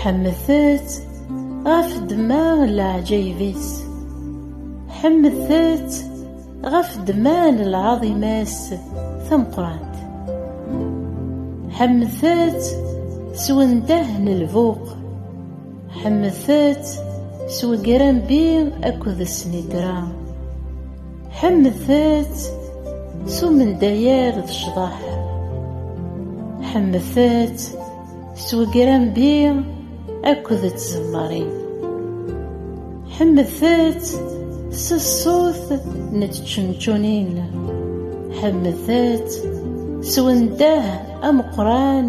Ḥemdet-t ɣef ddemma n leɛǧayeb-is. Ḥemdet-t ɣef ddemma n lɛaḍima-s tameqqrant. Ḥemdet-t s wendah n lbuq. Ḥemdet-t s wegrambi akked snitra. ḥemdet s umendayer d ccḍeḥ ḥemdet s wegrambi akked tzemmarin ḥemdet s ṣṣut n tčenčunin ḥemdet s wendah ameqran